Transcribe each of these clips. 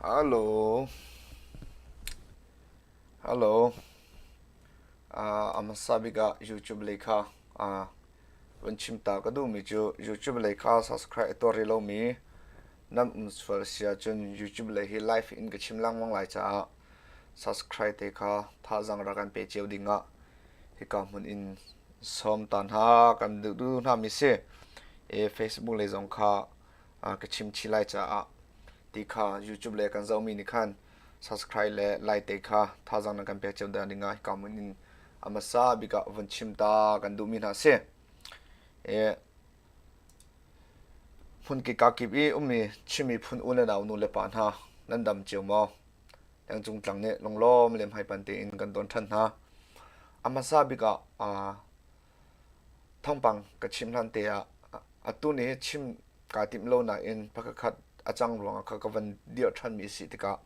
Halo. Halo. Ah, a hmasa bik ah YouTube leikha ah vun chim ta ka duhmi cu YouTube leikha subscribe tor rih lomi nan um sual si ahcun YouTube lei hi live in ka chim lengmang lai caah Subscribe te kha thazang rak kan pe cio ding ah hika hmun in sawm ta hna kan duh duh hna mi si. E Facebook le zong kha ka chim chi lai caah ti kha YouTube le kan zohmi nih khan subscribe le like te kha thazang nan kan pek cio da ding ah hika hmun in a hmasa bik ah vun chim ta kan duhmi hna si. E phun kika kip i ummi Chinmi phun u le nau nu le pa hna nan dam cio maw? Tengcung tlang nih lunglawm le hmaipan tein kan ton ṭhan hna. A hmasa bik ah thawngpang ka chim hlan te ah atu ni chim kaa timh lo nain phakakhat a cang ruangah kha ka van dirh ṭhanmi a si tikah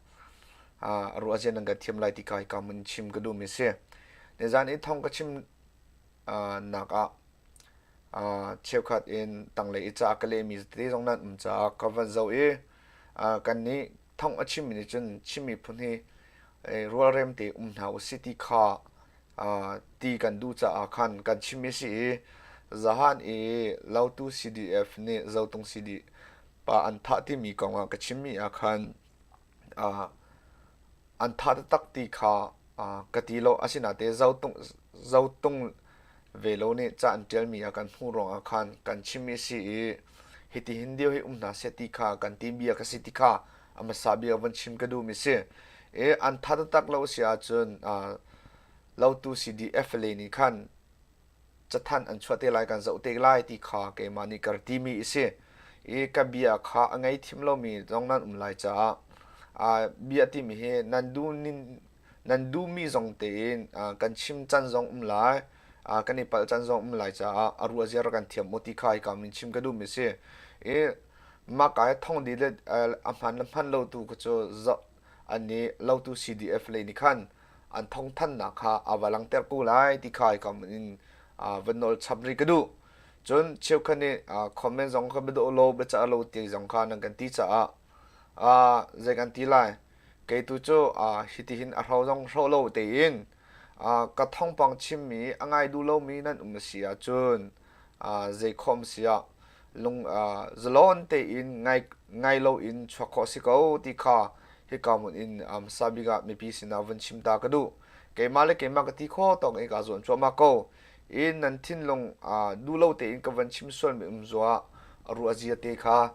a ruahzia nan kan thiam lai ti ka hika mun chim ka duhmi a si. Nizan i thawng ka chim nak ah cheukhat in tanglei i ca ka lehmi tete zong nan um caah ka van zoh i kannih thong a chimmi nih cun Chin miphun hi rualrem te um hna usih ti kha ti kan duh caah khan kan chimmi si i zahan i Lotu CDF nih Zotung CD pa an thah timi kong ah ka chimmi ah khan an thah taktak ti kha ka ti lo asinate Zotung Velo nih ca an ṭialmi a kan hmuh ruangah khan kan chimmi a si i hitihin dir hi um hna seh ti kha kan ti bia ka si ti kha a hmasa bia van chim ka duhmi a si. I an ttha taktak lo a si ahcun uh, lotu CDF le nih khan cathanh an chuah te lai kan zoh te lai ti kha keimah nih ka timi a si i ka bia kha a ngei thim lomi zong nan um lai caah uh, bia timi hi nan duh nin nan duhmi zong tein uh, kan chim can zong um lai uh, kan i palh can zong um lai caah a ruah ziar kan thiam ti kha i kamin chim ka duhmi si i mah kai thong di le a hman le hman lo tu ku cu ani lo tu CDF le ni khan an thong than na kha avalang ter ku lai ti kha i kam in van nol chap ri ka du chun cheu khani comment zong ka bedo lo be cha lo ti zong kha nan kan ti cha a zei kan ti lai kei tu cu hitihin a hro zong hro lo tein ka thawngpang chimmi a ngai duh lomi nan um a si ahcun zei khawm si ah lung zalawn tein ngai loin chuak khawh si ko ti kha hika mun in sabik ah mipi sinah vun chim ta ka duh keimah le keimah ka ti kho tawng i ka zuan cuahmah ko in nan thinlung duh lo tein ka van chim sual mi um zuah a ruah zia te kha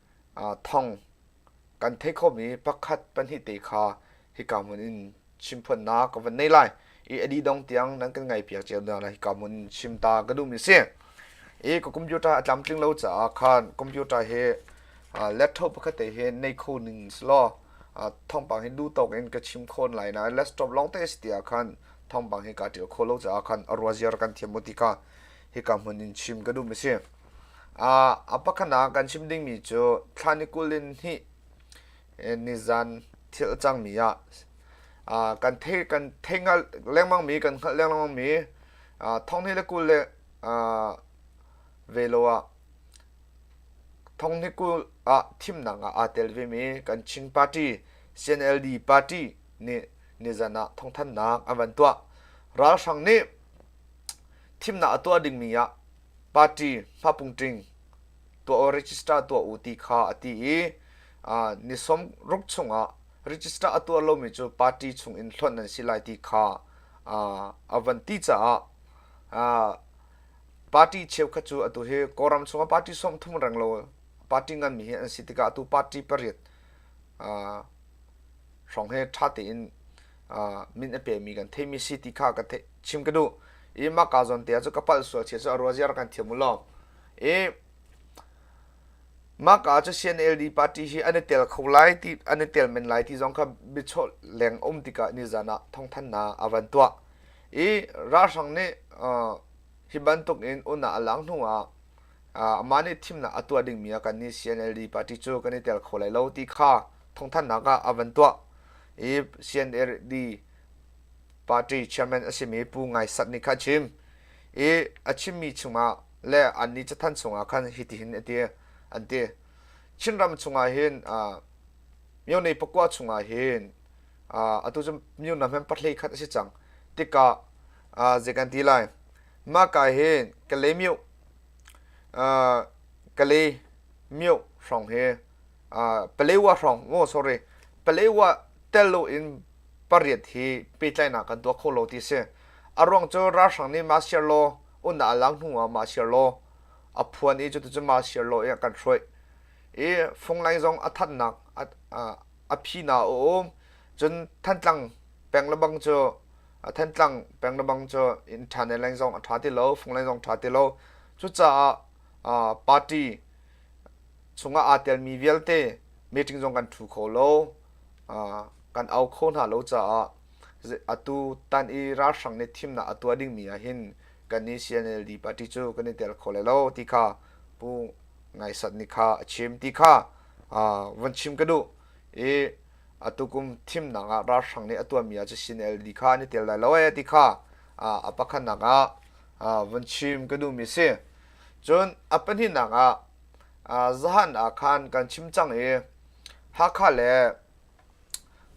thawng kan theih khomi pakhat pahnih te kha hika hmun in chim phuannak ka van nei lai i a dih dong tiang nan kan ngaihpiak cio hna lai hika hmun chim ta ka duhmi a si i ka computer a tlamtling lo caah khan computer hi laptop pakhat te hi nei kho ning si law thawngpang hi duhtawk in ka chim khawn lai na laptop lawng te a si tiah khan thawngpang hi kaa ṭial kho lo caah khan a ruazia rak kan thiam u ti ka hika hmun in chim ka duhmi a si A pakhat ah kan chim dingmi cu thlan i kul in hnih nizan thil cangmi ah kan thei kan thei hngalh lengmangmi kan hngalh lengmangmi thonghni le kul le velo ah thonghni kul ah thimnak ah aa tel vemi kan Chin Party CNLD party nih nizan ah thawngthannak an van tuah ralhrang nih thimnak a tuah dingmi ah party hlapung tling tuah u register tuah u ti kha a ti i ni sawm ruk chungah register a tuah lomi cu party chungin hlonh an si lai ti kha a van ti caah party cheukhat cu atu hi kawlram chungah party sawm thum reng lo party nganmi hi an si tikah atu party pariat hrawng he ṭha tein min a pemi kan theimi si ti kha ka chim ka duh i mah ka zawn te cu ka palh sual chia cu a rual ziar kan thiam u law i mah ka cu CNLD party hi an i tel kho lai ti an i tel men lai ti zong kha bichawh leng um tika ni zan ah thongthan na avan tuah i ralhrang nih hi bantuk in una alang hnu ah ama nih thimnak atuah dingmi kan ni CNLD party cu kan i tel kho lai lo ti kha thawngthanhnak ah a van tuah i CNLD party chairman a simi Pu Ngai Sat nih kha a chim i a chimmi chungah le annih cathan chungah khan hitihin a ti an ti Chinram chungah hin Myone pakua chungah hin atu cu myona hman patlei khat a si cang tikah zei kan ti lai mah ka hin kale myo kale myo hrawng hi Palewa hrawng maw sorry Palewa tel loin pariat hi pehtlainak kan tuah kho lo ti si. A ruang cu ralhrang nih mah siar law unnak a lak hnu ah mah siar law a phuan i cuticun mah siar law i a kan hruaih. I funglaing zong a thatnak a phi na a um. Cun Thantlang peng lebang cu Thantlang peng lebang cu inn tha ne laing zong a tha ti lo, funglaing zong tha ti lo. Cucaah party chungah aa telmi vialte meeting zong kan ṭhu kho lo kan au kho hna lo caah atu tan i ralhrang nih thimnak a tuah dingmi ah hin kan i CNLD party cu kan i tel kho lai lo ti kha pu Ngaisat nih kha a chim ti kha van chim ka duh i atu kum thimnak ah ralhrang nih a tuahmi ah cu CNLD kha an i tel lai lo ee ti kha a pakhatnak ah van chim ka duhmi si Cun a pahnihnak ah zahan ah khan kan chim cang i Hakha le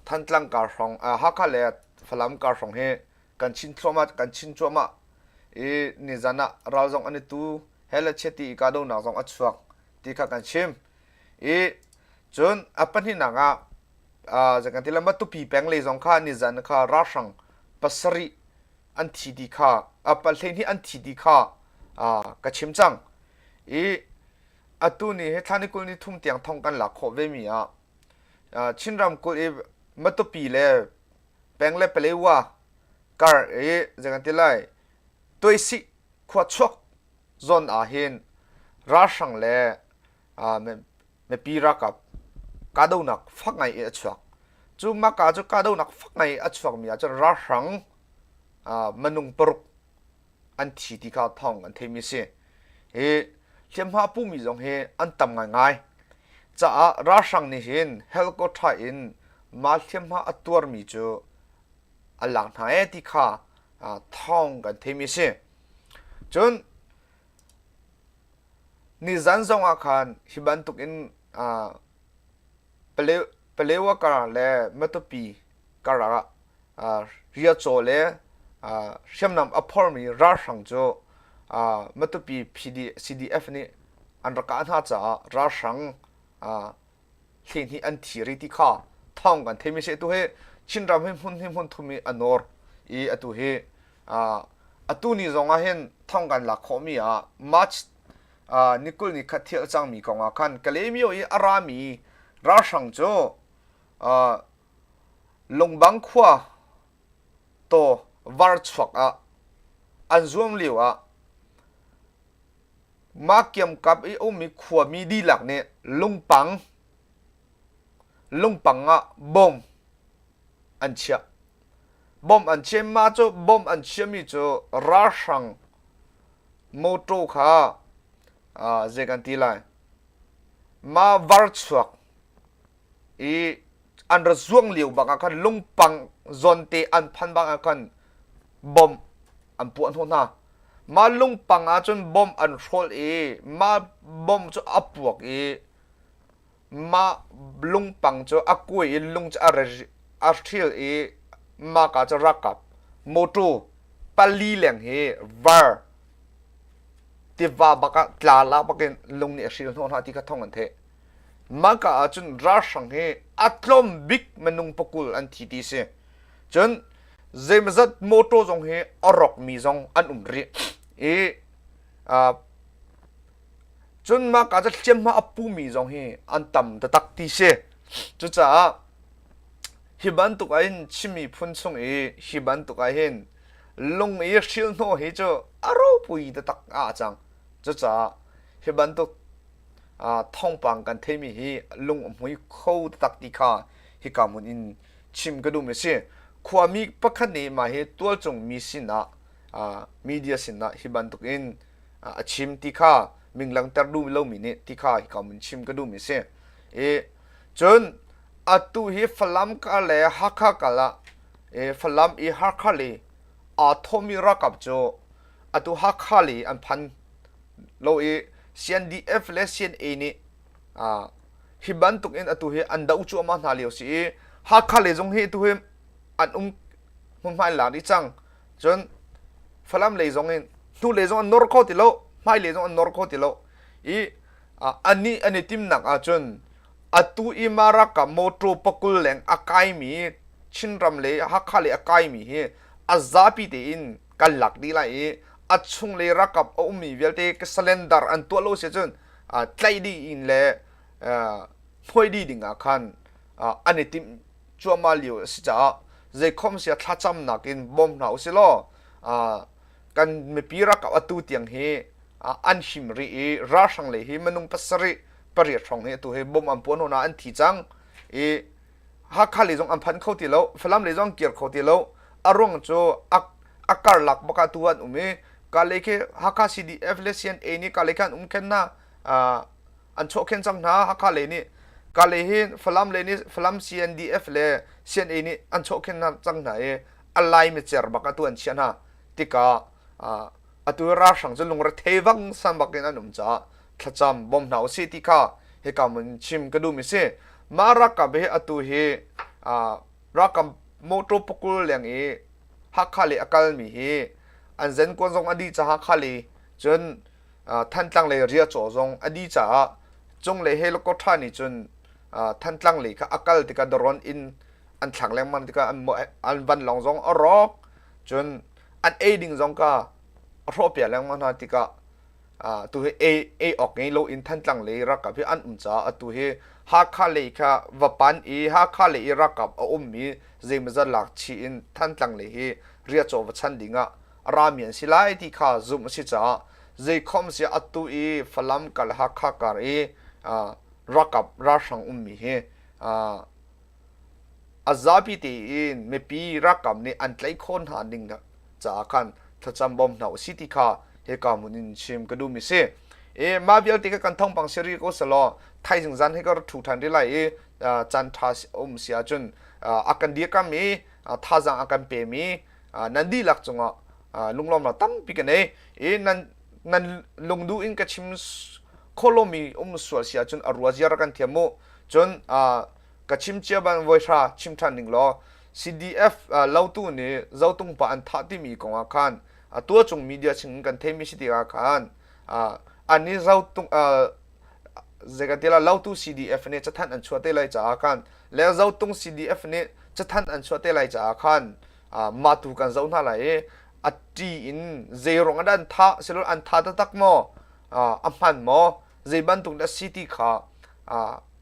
Thantlang kar hrawng Hakha le Falam kar hrawng hi kan chin thluahmah kan chin cuahmah i nizan ah ral zong an i tu he le chiati i kahdohnak zong a chuak ti kha kan chim i cun a pahnihnak ah uh, zekan ti le matupi peng lei zong kha nizan kha ralhrang pasarih an thi ti kha a pat hleihnih an thi ti kha ka chim cang i atu ni he thlani kul ni thum tiang thong kan lak khawh ve mi ah chinram kul i matupi le peng le palewa kar i zegan ti lai tuaisih khua chuak zon ah hin ralhrang le mipi ralkap kahdohnak fak ngai i a chuak cu maka cu kahdohnak fak ngai a chuakmi ah cun ralhrang minung paruk an thi ti kha thawng an theimi si hi hliamhma pumi zong hi an tam ngaingai caah ralhrang nih hin helicopter in mah hliamhma a tuarmi cu a lang hna e ti kha thawng kan theimi si cun Nizan zongah khan hi bantukin uh, Palewa kar le Matupi kar ah uh, riacaw le uh, hriamnam a phormi ralhrang cu uh, Matupi PD CDF nih an rak kah hna caah ralhrang uh, hleihnih an thi rih ti kha thawng kan theimi seh tu hi Chinram hi hmun hi hmun thum i a nawr i atu hi atu ni zong ah hin thawng kan lak khawhmi ah March ni kul ni khat thil a cangmi kong ah khan Kalemyo i a rami ralhrang cu Lungbang khua to varchuak ah an zuam lio ah Mah kiamkap i a ummi khuami dihlak nih lungpang lungpang ah bom an chiah. Bom an chiah i mah cu bom an chiahmi cu ralhrang motor kha aa zei kan ti lai mah varchuak i an ra zuang lio bangah khan lungpang zonte an phan bangah khan bom an puah hnawh hna mah lungpang ah cun bom an hrawl i mah bom cu a puak i mah lungpang cu a kuai in lung cu a a hril i mah ka cu rak kap motor pali leng hi var tiva bakah tla la bakin lung nih a hril hnawh hna ti kha thawng an theih Maka ah cun ralhrang hi a tlawm bik minung pakul an thi ti si. Cun zeimazat motor zong hi a rawkmi zong an um rih i cun maka cu hliamhma a pumi zong hi an tam taktak ti si. Cucaah hi bantuk ah hin Chin miphun chung i hi bantuk ah hin lung i hrilhnawh hi cu a ropui taktak a cang. Cucaah hi bantuk thawngpang kan theimi hi lung a hmui kho taktak ti kha hika hmun in chim ka duhmi a si. Khuami pakhat nih mah hi tualcungmi sinah media sinah hi bantukin a chim ti kha min langhter duh lomi nih ti kha hika hmun chim ka duhmi a si. I cun atu hi Falam kar le Hakha kar ah Falam i Hakha le aa thawhmi ralkap cu atu Hakha le an phan lo i CNDF le CNA nih hi bantuk in atu hi an do cuahmah hna lio si i Hakha le zong hi atu hi an um hmunhmai la rih cang cun Falam lei zong in hnu lei zong an nor kho ti lo hmai lei zong an nor kho ti lo i an nih an i timnak ahcun atu i Maraka motor pakul leng a kaimi Chinram le Hakha le a kaimi hi a zapi tein kan lak dih lai i a chunglei rakap a ummi vialte ka salendar an tuah lo si cun tlaih dih in le hnuai dih ding ah khan an i timh cuahmah lio a si caah zeikhom sia thlacamnak in bawm hna u si law kan mipi rakap atu tiang hi an him rih i ralhrang lei hi minung pasarih pariat hrawng hi atu hi bom an puan hona an thi cang i Hakha lei zong an phanh kho ti lo, Falam lei zong kir kho ti lo. A ruang cu a karlak bak ah tu an um i kalei khi Hakha CDF le CNA nih kalei khan um khen na an chawh khen cang hna Hakha lei nih kalei hi Falam lei nih Falam CNDF le CNA nih an chawh khen hna cang hna i a lai micer bak ah tu an chiah hna tikah atu ralhrang cu lungrethei vang san bak in an um caah thlacam bawm hna usih ti kha hika mun chim ka duhmi si mah ralkap hi atu hi ralkap motor pakul leng i hakha le a kalmi hi an zen kuan zong a dih caah hakha le cun thantlang le ria caw zong a dih caah cung le he lokotra nih cun thantlang le kha a kal tikah daron in an thlang lengmang tikah an van long zong a rawk cun an ei ding zong ka a hrawpia lengmang hna tikah uh, tu hi ei ei ok nge lo in thantlang le rakap hi an um ca atu hi Hakha le kha vapan i Hakha le i rakap a um mi zeimazat lak chi in thantlang le hi ria chaw va chan ding ah ramian si lai ti kha zum a si ca zeikhom si atu i Falam kal Hakha kar i uh, rakap rahrang um mi hi uh, A zapi tein mipi ralkap nih an tlaih khawh hna ning caah khan thlacam bawm hna u sih ti kha hika hmun in chim ka duhmi a si. I mah vialte ka kan thawngpang si rih ko selaw thaizing zan hi ka rak ṭhu ṭhan rih lai i caan ṭha um si ahcun a kan dirkamh i thazaang a kan pemi nan dihlak cungah lunglawmnak tampi ka nei i nan nan lungduh in ka chim khawh lomi um sual si ahcun a ruazia rak kan thiam u cun ka chim cia bang voi hra chim ṭhan ding law CDF uh, lotu nih zotung pa an thah timi kongah khan a tua cung media chingin kan theimi si tikah khan uh, an nih zotung uh, zekatila lotu CDF nih cathan an chuah te lai caah khan le zotung CDF nih cathan an chuah te lai caah khan uh, matu kan zo hna lai i ati in zeirong an tha silol an tha taktak maw a hman maw zei bantuk a si ti kha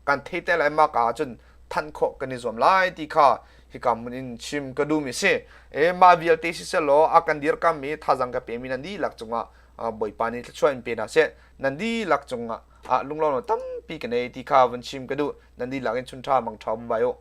kan thei te lai maka ahcun thanh khawh kan i zuam lai ti kha hika mun in chim ka duhmi si e ma vialte si selaw a kan dir kammi thazang ka pemi nan dihlak cungah bawipa nih thluachuah in pe hna seh nan dihlak cungah lunglawm tampi ka nei ti kha vun chim ka duh nan dihlak in chun ṭha mang ṭha um vai u